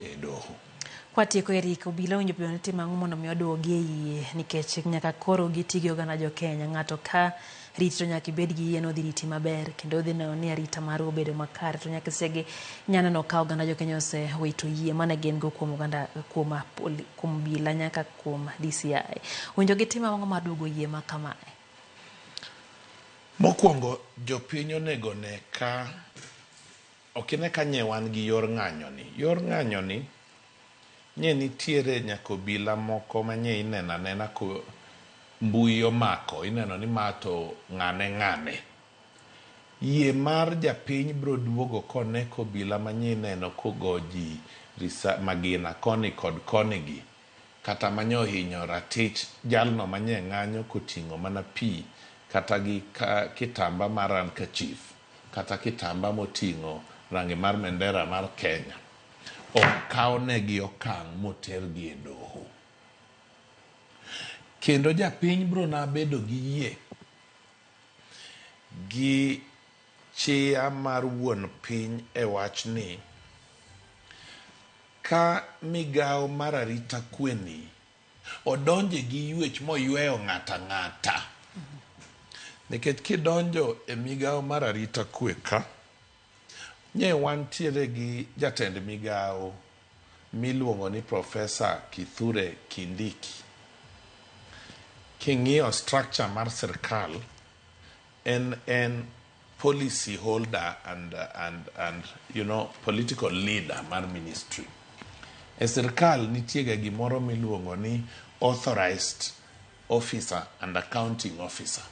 e doho. Kwatieko Eric, obila owinjo bed ni timo ang'o mondo mi oduogi e yie nikech nyaka koro giti gi oganda jo Kenya. Ng'ato ka riti to nyaka ibed gi yie ni odhi riti maber kendo odhi neno ni arita maru obedo makare to nyaka sege inya neno ka oganda jo Kenya osewito yie mane gin go kuom oganda kuom apoli- kuom obila nyaka kuom DCI. Owinjo gitim ang'o mar duogo yie ma kamae? Mokwongo jopiny onego ne ka Ok ine ka nye wan gi yor ng'anyo ni. Yor ng'anyo ni, nye nitiere nyaka obila moko ma nye ineno anena ko mbui omako, ineno ni ma to ng'ane ng'ane. Yie mar japiny biro duogo kone ka obila ma nye ineno kogo ji risa, magina koni kod koni gi, kata ma nye ohinyo ratich jalno ma nye ng'anyo koting'o mana pi kata gi ka, kitamba mar handkerchief. kata kitamba moting'o rangi mar mendera mar Kenya, ok kawnegi okang' motergi e doho. Kendo japiny biro na bedo gi yie gi chia mar wuon piny e wach ni ka migawo mar arita kwe ni Odonje gi yuech moyweyo ng'ato ang'ata. Nikech kidonjo e migawo mar arita kwe ka, nye wantiere gi jatend migawo miluongo ni Profesa Kithure Kindiki. King'iyo structure mar sirkal, en en. policy holder and, and, and you know, political leader mar ministry. E sirkal nitiega gimoro miluongo ni authorized officer and accounting officer.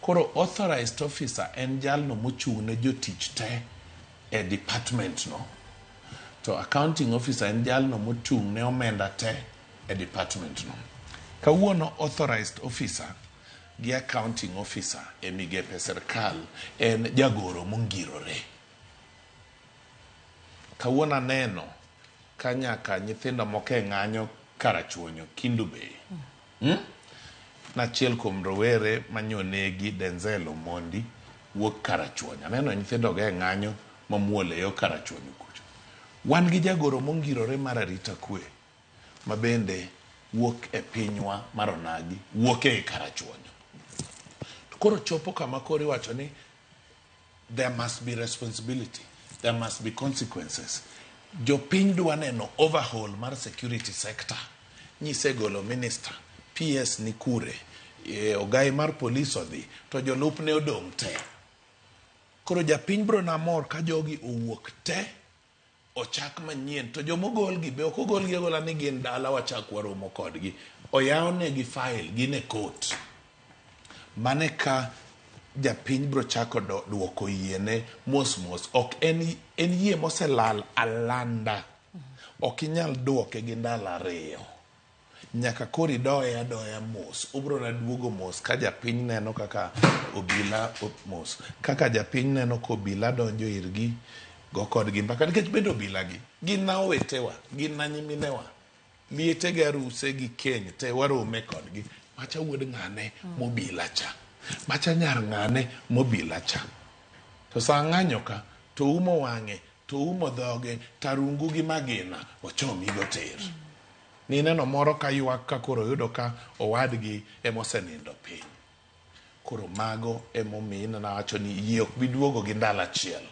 Koro authorized officer en jalno mochung' ne jotich te e department no. To accounting officer en jalno mochung' ne omenda te e department no. Kawuono authorized officer gi accounting officer e migepe sirkal en jagoro mongirore. Kawuono aneno ka nyaka nyithindo moko e ng'anyo Karachuonyo, Kindu Bay. Hmm? Nachiel kuom rowere manyonegi Denzel Omondi wuok Karachuonyo. Aneno nyithindogo e ng'anyo mamuol e yo Karachuonyo kucho. Wan gi jagoro mongirore mar arita kwe. ma bende wuok e pinywa mar onagi, wuok ei Karachuonyo. To koro chopo kama koro iwacho ni there must be responsibility, there must be consequences. Jopiny dwa neno overhaul mar security sector. Nyisegolo minister, PS ni kure, eh, ogai mar polis odhi, to jolupne odong' te. Koro japiny bro na mor ka jogi owuok te ochak manyien to joma ogolgi be ok ogolgi agola ni gin dala wachak waromo kodgi oyawnegi file gin e court mane ka japiny biro chako duoko yiene mos mos ok en, en yie moselal alanda ok inyal duoke gi ndalo ariyo Nyaka koro idoye adoya mos. Ubrona duogo mos ka japiny neno kaka obila mos. Kaka japiny neno ka obila donjo irgi, go kodgi mbaka nikech bende obila gi gin na owetewa, gin na nyiminewa. Liete gi aruse gi keny te warome kodgi. Macha wuod ng'ane mobila cha? Macha nyar ng'ane mobila cha? To sa ng'anyo ka to oumo wang'e, to oumo dhoge, tarungu gi magina ochomigo tir. Mineno moro ka ywak ka koro oyudo ka owadgi e mosenindo piny. Koro mago e momin nawacho ni yie ok bi duogo gi ndalo achiel.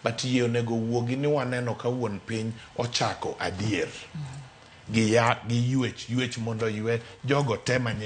But yie onego owuogi ni waneno ka wuon piny ochako adier. Gi ya, gi yuech, yuech mondo oywe jogo te manye.